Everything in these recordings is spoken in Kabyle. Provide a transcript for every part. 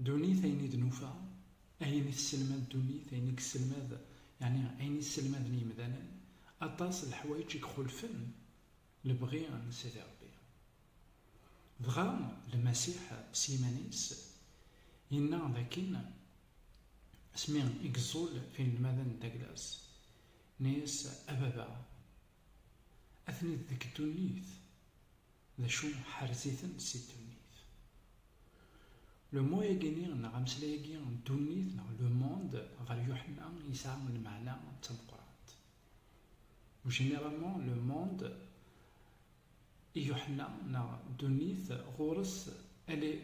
Ddunit, ayen i d-nufa, ayen i tesselmad ddunit, ayen i yesselmad, yeɛni ayen i sselmaden yemdanen, aṭas n leḥwayeǧ i ixulfen lebɣi n Sidi Ṛebbi. Dɣa Lmasiḥ s yiman-is yenna d akken asmi i yeẓẓul tinelmadin n Daglas, yenna-yas, A Baba, Atni-d deg ddunit, d acu ḥerz-iten si ddunit. Le mot agi-nni neɣ ameslay-agi ddunit neɣ le monde ɣer Yuḥenna yesɛa lmeɛna d tameqqrant. Généralement le monde i Yuḥenna neɣ ddunit ɣur-s elle est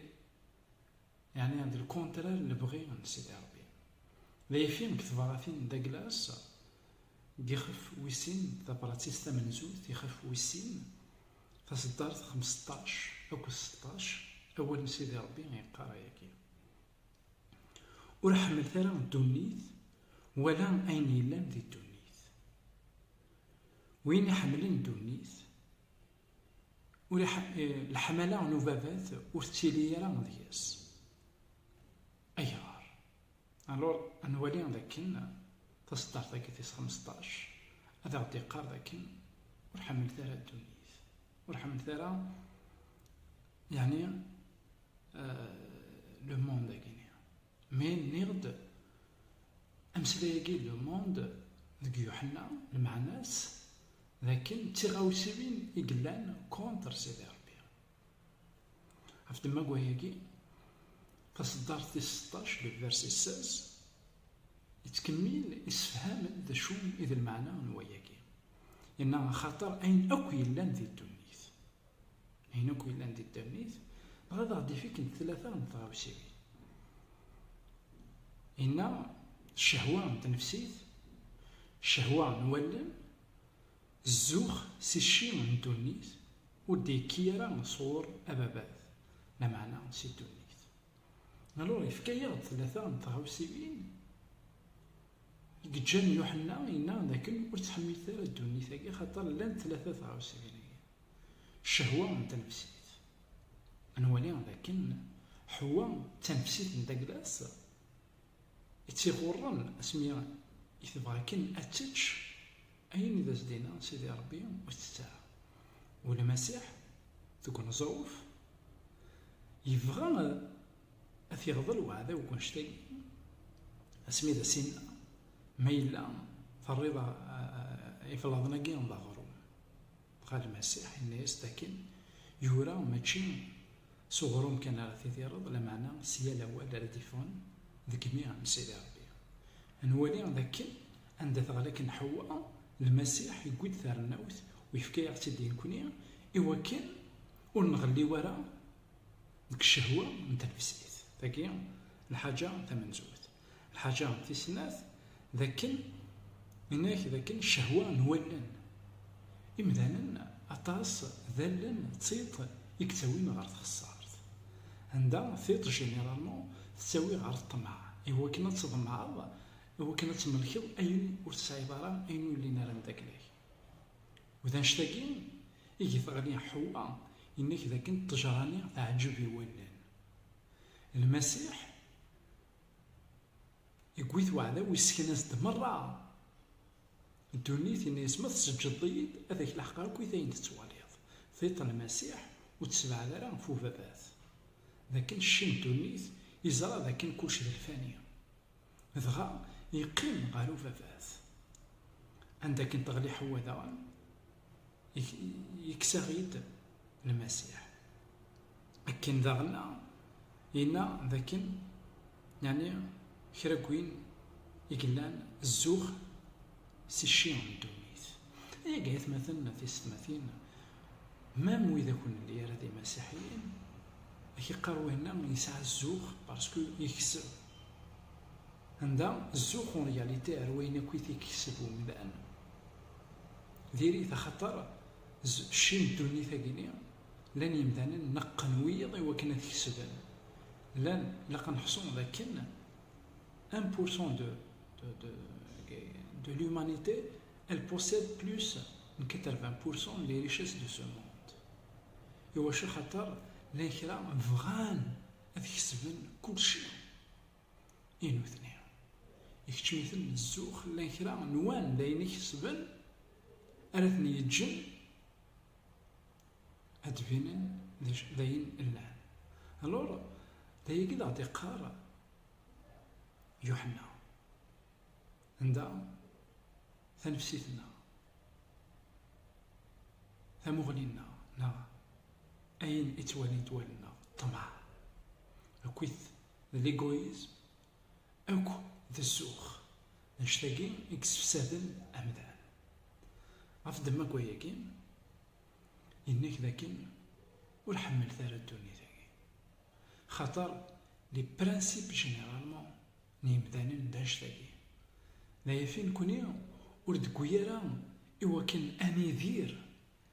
Yeɛni d lkuntrar n lebɣi n Sidi Ṛebbi. D ayefki deg tebṛatin n Daglas, deg ixef wis sin, tabṛatit tamenzut, ixef wis sin, taseddart xemseṭṭac akked seṭṭac, awal n Sidi Ṛebbi yeqqar ayagi, Ur ḥemmlet ara ddunit wala ayen yellan di ddunit. Win iḥemmlen ddunit, ur leḥmala n ubabat ur tettili ara deg-s. Ayɣer? Alur, ad nwali d akken taseddart-agi tis xmesṭac ad aɣ-d-iqqar d akken ur ḥemmlet ara ddunit, ur ḥemmlet ara yeɛni le monde-agi-nni. Mi nniɣ-d ameslay-agi le monde deg Yuḥenna, lmeɛna-s d akken d tiɣawsiwin i yellan contre Sidi Rebbi. Ɣef ddemma n wayagi, taṣeddart tis seṭṭac, le verset seize, yettkemmil yessefham-d d acu i d lmeɛna n wayagi. Yenna, Axaṭer ayen akk yellan di ddunit. Ayen akk yellan di ddernit, dɣa ad aɣ-d-ifikken d tlata n tɣawsiwin. Inna ccehwa n tnefsit, ccehwa n wallen, zzux si cci n ddunit, ur d-yekki ara sɣur ababat, lameɛna si ddunit. Alur yefka-yaɣ-d tlata n tɣawsiwin i yeǧǧan Yuḥenna yenna dakken ur ttḥemmilet ara ddunit-agi axaṭer llant tlata tɣawsiwin-agi. Ccehwa n tnefsit. Nwali d akken Ḥewwa d tanefsit n Daglas i tt-iɣurren asmi i tebɣa akken ad tečč ayen i d as-d-yenna Sidi Rebbi ur tettett ara. U Lmasiḥ deg uneẓruf yebɣa ad t-iɣḍel weɛdaw deg wanect-agi asmi i d as-yenna, Ma yella terriḍ iblaḍen-agi d aɣrum. Dɣa Lmasiḥ yenna-yas-d akken yura, mačči s uɣrum kan ara tidireḍ, lameɛna s yal awal ara d-yeffɣen deg imi n Sidi Rebbi. Ad nwali dakken anda teɣli akken Ḥewwa, Lmasiḥ yewwi-d tarennawt u yefka-yaɣ-tt-id i nekni, i wakken ur nɣelliw ara deg ccehwa n tnefsit. Tagi lḥaǧa tamenzut. Lḥaǧa tis snat, d akken nnan-ak d akken ccehwa n wallen imdanen aṭas d allen d tiṭ i yettawin ɣer txessart, anda tiṭ généralement tettawi ɣer ṭṭmeɛ, iwakken ad tḍemɛeḍ, iwakken ad tmelkeḍ ayen ur tesɛiḍ ara, ayen ur llin ara mdakel-ak. U d annect-agi i geteɣli Ḥewwa yenna-k d akken ṭṭejra-nni teɛǧeb i wallen. Lmasiḥ Yewwi-t weɛdaw yessken-as-d merra ddunit, yenna-yas, Ma tseǧǧeḍ-iyi-d, ad ak-leḥqeɣ akk i t-ayen tettwaliḍ, tiṭ n Masiḥ, ur tt-sebɛed ara ɣef ubabat. D akken cci n ddunit, yeẓra d akken kullec d lfani. Dɣa yeqqim ɣer ubabat. Anda akken teɣli Ḥewwa daɣen. yekkes-aɣ-id Lmasiḥ. Akken daɣen yenna d akken yani kra n win i yellan zzux si cci n ddunit. Ayaga aytmaten n tisetmatin, mam wid akk nelli ara d imasiḥiyen, ak iqqar winna yesɛa zzux parce que yekseb. Anda zzux en réalité ar wayen akk i t-ikekseb umdan. Diri-t axaṭer cci n ddunit-agi-ni, llan yemdanen neqqen wiyeḍ i wakken a t-kesben. Llan, ilaq a neḥṣu d akken un pour cent de de de l'humanité elle possède plus n quatre-vingts pour cent n les richesses de ce monde. Iwacu? Axaṭer llan kra bɣan ad kesben kulci. I nutni, ikeččem-iten zzux, llan kra n wan d ayen ikesben ara ten-yeǧǧen ad d-binen d ayen llan. Alur, d ayagi i d-aɣ-d-iqqar Yuḥenna, anda tanefsit-nneɣ, tamuɣli-nneɣ, neɣ ayen i ttwalint wallen-nneɣ, ṭṭmeɛ, akkit d ligoyism akk d ssux, d anect-agi i yessefsaden amdan. Ɣef ddemma n wayagi, yenna-k d akken ur ḥemmlet ara ddunit-agi, axaṭer les principes généralement n yemdanen d anect-agi, d ayafin nekkni ur d-tewwi ara i wakken ad nidir